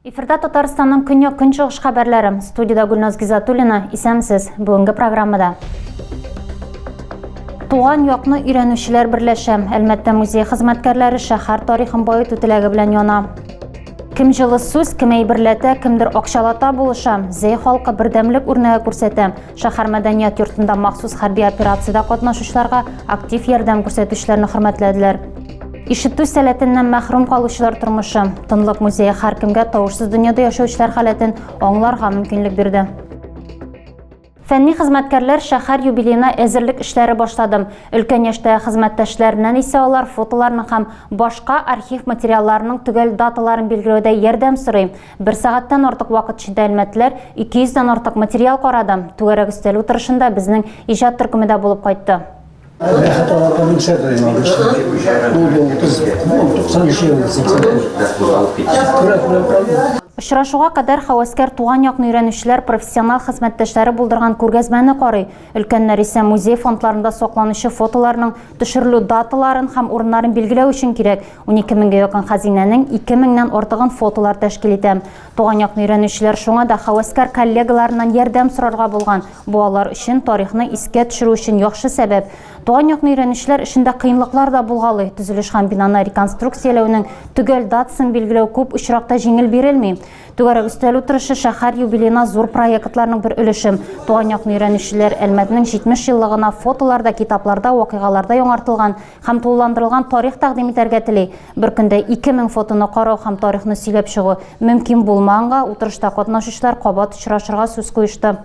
Эфирда Татарстанның көньяк көнчыгыш хәбәрләре. Студиядә Гүлназ Гизатуллина. Исәнмесез. Бүгенге программада Туган якны өйрәнүчеләр берләшә. Әлмәттә музей хезмәткәрләре шәһәр тарихын баету теләге белән яна. Кем җылы сүз, кем әйберләтә, кемдер акчалата булыша. Зәй халкы бердәмлек үрнәге күрсәтә. Шәһәр мәдәният йортында махсус хәрби операциядә катнашучыларга актив ярдәм күрсәтүчеләрне хөрмәтләделәр. Ишетү сәләтеннән мәхрүм калучылар тормышы. Тынлык музее һәркемгә тавышсыз дөньяда яшәүчеләр халәтен аңларга мөмкинлек бирде. Фәнни хезмәткәрләр шәһәр юбилеена әзерлек эшләре башлады. Өлкән яшьтәге хезмәттәшләреннән исә алар фотоларның һәм башка архив материалларының төгәл даталарын билгеләүдә ярдәм сорый. Бер сәгатьтән артык вакыт эчендә әлмәтлеләр 200 дән артык материал карады. Түгәрәк өстәл утырышында безнең иҗат төркеме дә булып кайтты. Рәхәт аларга мөксә берәй алышы. Бу бу кыз 93 ел 80. Күрә күрә калды. Очрашуга кадәр хәвәскәр туган якны өйрәнүчеләр профессиональ хезмәттәшләре булдырган күргәзмәне карый, өлкәннәр исә музей фондларында сакланучы фотоларның төшерелү даталарын һәм урыннарын билгеләү өчен кирәк 12 меңгә якын хәзинәнең ике меңнән артыгын фотолар тәшкил итә. Туган якны өйрәнүчеләр шуңа да хәвәскәр коллегаларыннан ярдәм сорарга булган. Бу алар өчен тарихны искә төшерү өчен яхшы сәбәп. Туган якны өйрәнүчеләр өчен дә кыенлыклар да булгалый. Төзелеш һәм бинаны реконструкцияләүнең төгәл датасын билгеләү күп очракта җиңел бирелми. Түгәрәк өстәл утырышы шәһәр юбилеена зур проектларның бер өлешем. Туган якны өйрәнүчеләр Әлмәтнең 70 еллыгына фотоларда, китапларда, вакыйгаларда яңартылган Һәм тулыландырылган тарих тәкъдим итәргә тели. Бер көндә 2000 фотоны карау һәм тарихны сөйләп чыгу мөмкин булмаганга, утырышта катнашучылар кабат очрашырга сүз куешты.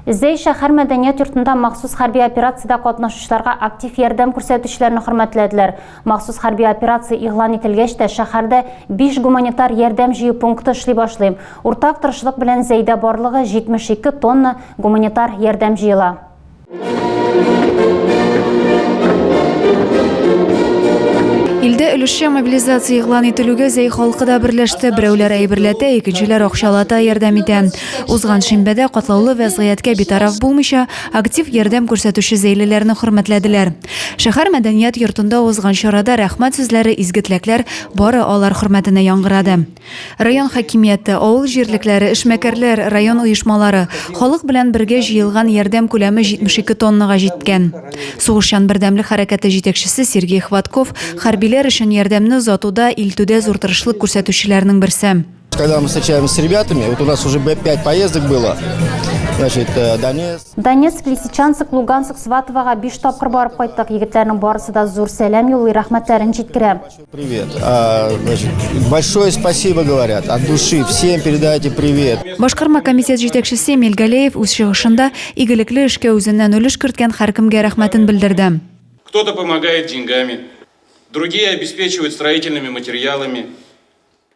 Зәй шәһәр мәдәният йортында махсус хәрби операциядә катнашучыларга актив ярдәм күрсәтүчеләрне хөрмәтләделәр. Махсус хәрби операция игълан ителгәч тә, шәһәрдә биш гуманитар ярдәм җыю пункты эшли башлый. Уртак тырышлык белән Зәйдә барлыгы 72 тонна гуманитар ярдәм җыела. Илдә өлешчә мобилизация игълан ителүгә зәй халкы да берләште. Берәүләр әйберләтә, икенчеләр акчалата ярдәм итә. Узган шимбәдә катлаулы вәзгыятькә битараф булмыйча, актив ярдәм күрсәтүче зәйлеләрне хөрмәтләделәр. Шәһәр мәдәният йортында узган чарада рәхмәт сүзләре, изге теләкләр бары алар хөрмәтенә яңгырады. Район хакимияте, авыл җирлекләре, эшмәкәрләр, район оешмалары, халык белән бергә җыелган ярдәм күләме 72 тоннага җиткән. Сугышчан бердәмлек хәрәкәте җитәкчесе Сергей Хватков хәрбиләр өчен ярдәмне озатуда, илтүдә зур тырышлык күрсәтүчеләрнең берсе. Когда мы встречаемся с ребятами, вот у нас уже 5 поездок было, значит, э, Донецк. Донецк, Лисичанск, Луганск, Сватовага биш тапкыр барып кайттык. Егетләрнең барысы да зур сәлам юллый, рәхмәтләрен җиткерә. Привет. А, значит, большое спасибо говорят от души. Всем передайте привет. Башкарма комитет җитәкчесе Эмиль Галеев үз чыгышында игелекле эшкә үзеннән өлеш керткән һәркемгә рәхмәтен белдерде. Кто-то помогает деньгами, другие обеспечивают строительными материалами.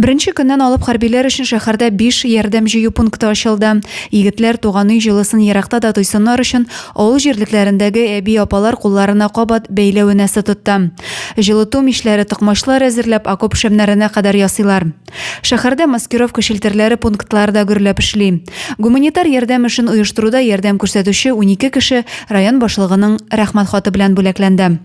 Беренче көннән алып хәрбиләр өчен шәһәрдә биш ярдәм җыю пункты ачылды. Егетләр туган өй җылысын еракта да тойсыннар өчен, авыл җирлекләрендәге әби-апалар кулларына кабат бәйләү энәсе тотты. Җылыту мичләре, токмачлар әзерләп, окоп шәмнәренә кадәр ясыйлар. Шәһәрдә маскировка челтәрләре пунктлары да гөрләп эшли. Гуманитар ярдәм эшен оештыруда ярдәм күрсәтүче унике кеше район башлыгының Рәхмәт хаты белән бүләкләнде.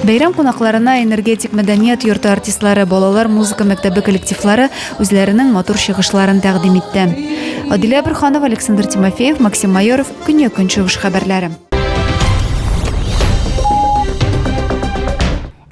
Бәйрәм кунакларына энергетик мәдәният йорты артистлары, балалар музыка мәктәбе коллективлары үзләренең матур чыгышларын тәкъдим итте. Адилә Бөрханова, Александр Тимофеев, Максим Майоров, Көньяк Көнчыгыш хәбәрләре.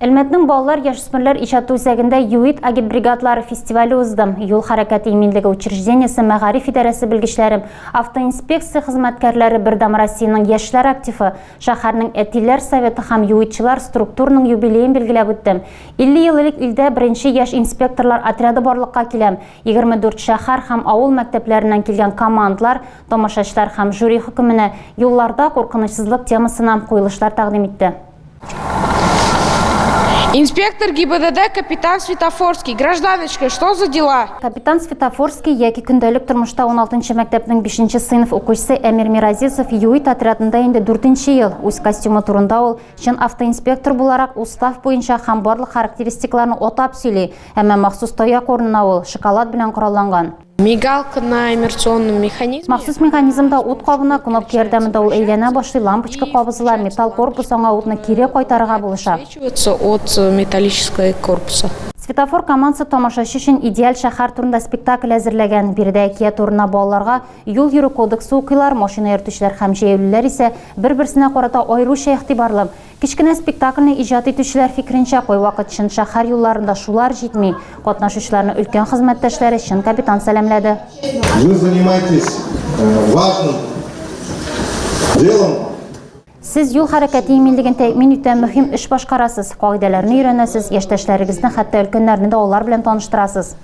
Әлмәтнең балалар, яшүсмерләр иҗаты үзәгендә Юит агитбригадлары фестивале узды. Юл хәрәкәте иминлеге учреждениесе мәгариф идарәсе белгечләре, автоинспекция хезмәткәрләре Бердәм Россиянең яшьләр активы, шәһәрнең Әтиләр советы һәм Юитчылар структурының юбилеен билгеләп үтте. 50 ел элек илдә беренче яшь инспекторлар отряды барлыкка килә. 24 шәһәр һәм авыл мәктәпләреннән килгән командлар, тамашачылар һәм жюри хөкеменә юлларда куркынычсызлык темасына куелышлар тәкъдим итте. Инспектор ГИБДД капитан Светофорский. Гражданочка, что за дела? Капитан Светофорский яки көндәлек тормышта 16 мәктәпнең 5 сыйныф укучысы Әмир Миразисов юит отрядында инде 4 ел. Үз костюмы турында ул чын автоинспектор буларак устав буенча һәм барлык характеристикларны отап сөйли. Әмма махсус таяк урынына ул шоколад белән коралланган. Мигалка на иммерционном механизме. Махсус механизмда ут кабына кнопка ярдәмендә ул әйләнә башлый, лампочка кабызыла, металл корпус аңа утны кире кайтарырга булыша. От э, металлической корпуса. Светофор командасы тамашачы өчен идеаль шәһәр турында спектакль әзерләгән. Биредә әкият турына балаларга юл йөрү кодексы укыйлар, машина йөртүчеләр һәм җәяүлеләр исә бер-берсенә карата аеруча игътибарлы. Кечкенә спектакльне иҗат итүчеләр фикеренчә, кайвакыт чын шәһәр юлларында шулар җитми. Катнашучыларны өлкән хезмәттәшләре чын капитан сәламләде. Вы занимайтесь важным делом. Сез юл хәрәкәте иминлеген тәэмин итә мөһим эш башкарасыз, кагыйдәләрне өйрәнәсез, яшьтәшләрегезне, хәтта өлкәннәрне дә алар белән таныштырасыз.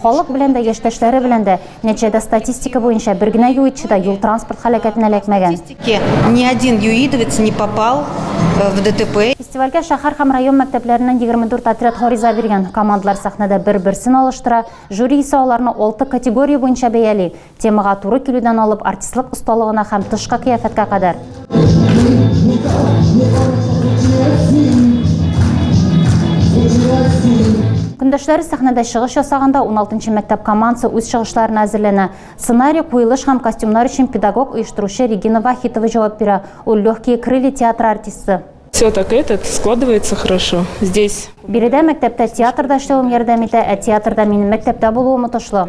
Халык белән дә, яшьтәшләре белән дә, нәтиҗәдә статистика буенча бер генә юитчы да юл-транспорт һәлакәтенә эләкмәгән. Ни один юидовец не попал в ДТП. Фестивальгә шәһәр һәм район мәктәпләреннән егерме дүрт отряд гариза биргән. Командалар сәхнәдә бер-берсен алыштыра, жюри исә аларны алты категория буенча бәяли, Темага туры килүдән алып артистлык осталыгына һәм тышка кыяфәткә кадәр. Көндәшләре сәхнәдә чыгыш ясаганда 16 мәктәп командасы үз чыгышларына әзерләнә. Сценарий, куелыш һәм костюмнар өчен педагог, оештыручы Регина Вахитова җавап бирә. Ул Легкие крылья театры артисты. Все так этот складывается хорошо. Здесь. Биредә мәктәптә театрда эшләвем ярдәм итә, ә театрда минем мәктәптә булуым отышлы.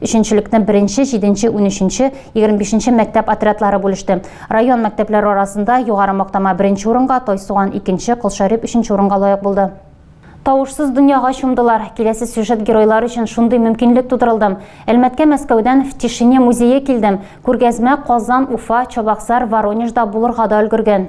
Өченчелекне беренче, җиденче, унөченче, егерме бишенче мәктәп отрядлары бүлеште. Район мәктәпләре арасында Югары Мактама беренче урынга, Тайсуган, икенче, Колшәрип өченче урынга лаек булды. Тавышсыз дөньяга чумдылар. Киләсе сюжет геройлар өчен шундый мөмкинлек тудырылды. Әлмәткә Мәскәүдән В тишине музее килдем. Күргәзмә Казан, Уфа, Чабаксар, Воронежда булырга да өлгергән.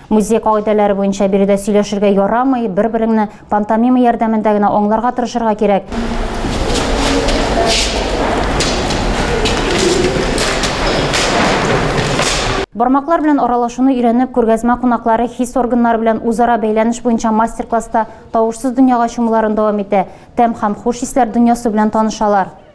Музей кагыйдәләре буенча биредә сөйләшергә ярамый, бер-береңне пантомима ярдәмендә генә аңларга тырышырга кирәк. Бармаклар белән аралашуны өйрәнеп, күргәзмә кунаклары хис органнары белән үзара бәйләнеш буенча мастер-класста тавышсыз дөньяга чумуларын дәвам итә, тәм һәм хуш исләр дөньясы белән танышалар.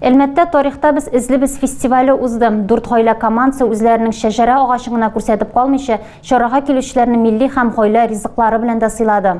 Әлмәттә тарихта без эзлибез фестивале узды. Дүрт гаилә командасы үзләренең шәҗәрә агачын гына күрсәтеп калмыйча, чарага килүчеләрне милли һәм гаилә ризыклары белән дә сыйлады.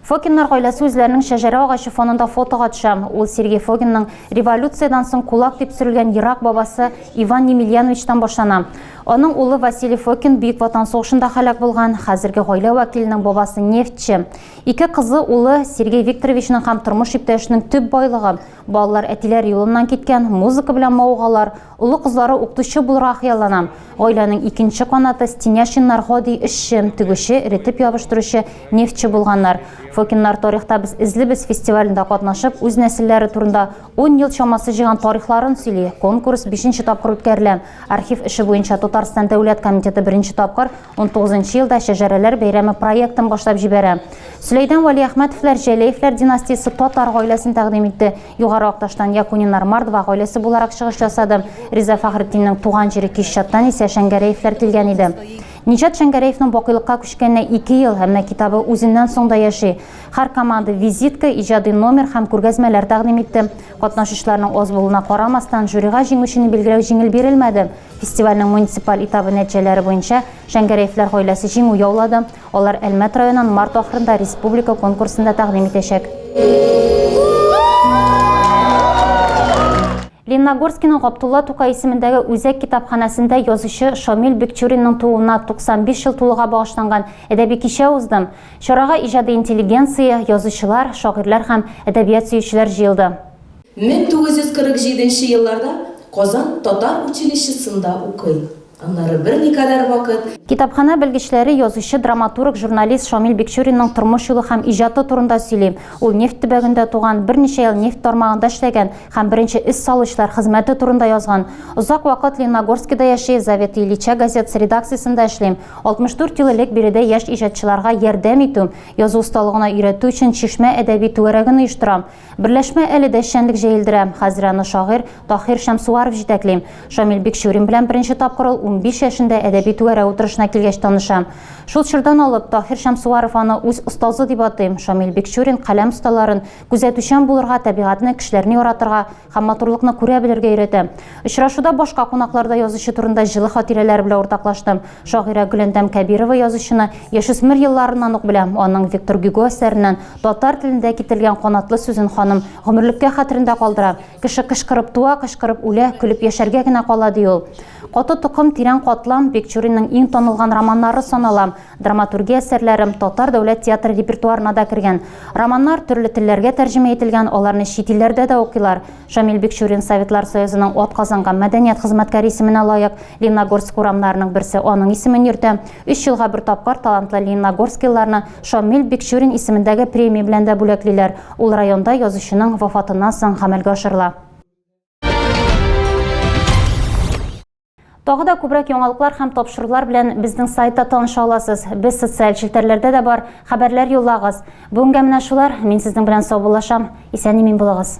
Фокиннар гаиләсе үзләренең шәҗәрә агачы фонында фотога төшә. Ул Сергей Фогинның революциядән соң кулак дип сөрелгән ерак бабасы Иван Немельяновичтан башлана. Аның улы Василий Фокин Бөек Ватан сугышында һәлак булган, хәзерге гаилә вәкиленең бабасы нефтьче. Ике кызы, улы Сергей Викторовичның һәм тормыш иптәшенең төп байлыгы. Балалар әтиләр юлыннан киткән, музыка белән мавыгалар. Олы кызлары укытучы булырга хыяллана. Гаиләнең икенче канаты Стеняшиннар гади эшче, тегүче, эретеп ябыштыручы, нефтьче булганнар. Фокиннар тарихта без эзлибез фестивалендә катнашып, үз нәселләре турында ун ел чамасы җыйган тарихларын сөйли, конкурс бишенче тапкыр үткәрелә. Архив эше буенча Татарстан Дәүләт комитеты беренче тапкыр 19 елда Шәҗәрәләр бәйрәме проектын башлап җибәрә. Сөләйдән Вәлиәхмәтовләр Җәләевләр династиясе татар гаиләсен тәкъдим итте. Югары Акташтан Якунинар Мордва гаиләсе буларак чыгыш ясады. Риза Фәхретдиннең туган җире Кишчаттан исә Шәңгәрәевләр килгән иде. Ниҗат Шәңгәрәевның бакыйлыкка күчкәненә ике ел, әмма китабы үзеннән соң да яши. Һәр команда визитка, иҗади номер һәм күргәзмәләр тәкъдим итте. Катнашучыларның аз булуына карамастан, жюрига җиңүчене билгеләү җиңел бирелмәде. Фестивальнең муниципаль этабы нәтиҗәләре буенча Шәңгәрәевләр гаиләсе җиңү яулады. Алар Әлмәт районын март ахырында республика конкурсында тәкъдим итәчәк. Лениногорскиның Габдулла Тукай исемендәге үзәк китапханәсендә язучы Шамил Бекчуринның тууына 95 ел тулуга багышланган әдәби кичә узды. Чарага иҗади интеллигенция, язучылар, шагыйрьләр һәм әдәбият сөючеләр җыелды. 1947 нче елларда Казан татар училищесында укый. Аннары берникадәр вакыт. Китапханә белгечләре язучы, драматург, журналист Шамил Бикчуринның тормыш юлы һәм иҗаты турында сөйли. Ул нефть төбәгендә туган, берничә ел нефть тармагында эшләгән һәм беренче эз салучылар хезмәте турында язган. Озак вакыт Лениногорскида яши, Заветы Ильича газетасы редакциясендә эшли. 64 ел элек биредә яшь иҗатчыларга ярдәм итү, язу осталыгына өйрәтү өчен Чишмә әдәби түгәрәген оештырам. Берләшмә әле дә эшчәнлек җәелдерә. Хәзер аны шагыйрь Таһир Шәмсуаров җитәкли. Шамил Бикчурин белән беренче тапкыр ул унбиш яшендә әдәби түгәрәк утырышына килгәч таныша. Шул чордан алып, Таһир Шәмсуаров аны үз остазы дип атый. Шамил Бикчурин каләм осталарын, күзәтүчән булырга, табигатьне, кешеләрне яратырга, һәм матурлыкны күрә белергә өйрәтә. Очрашуда башка кунаклар да язучы турында җылы хатирәләр белән уртаклашты. Шагыйрә Гөләндәм Кәбирова язучыны яшүсмер елларыннан ук белә, аның Виктор Гюго әсәреннән татар телендә китерелгән канатлы сүзен ханым гомерлеккә хәтерендә калдыра, Кеше кычкырып туа, кычкырып үлә, көлеп яшәргә генә кала, ди ул. Каты токым, тирән катлам, Бекчуринның иң танылган романнары санала. Драматургия әсәрләре Татар дәүләт театры репертуарына да кергән. Романнар төрле телләргә тәрҗемә ителгән, аларны чит илләрдә дә укыйлар. Шамил Бикчурин Советлар Союзының атказанган мәдәният хезмәткәре исеменә лаек. Лениногорск урамнарының берсе аның исемен йөртә. Өч елга бер тапкыр талантлы лениногорскилыларны Шамил Бикчурин исемендәге премия белән дә бүләклиләр. Ул районда язучының вафатыннан соң гамәлгә ашырыла. Тагы да күбрәк яңалыклар һәм тапшырулар белән безнең сайтта таныша аласыз. Без социаль челтәрләрдә дә бар. Хәбәрләр юллагыз. Бүгенгә менә шулар. Мин сезнең белән саубуллашам. Исән-имин булыгыз.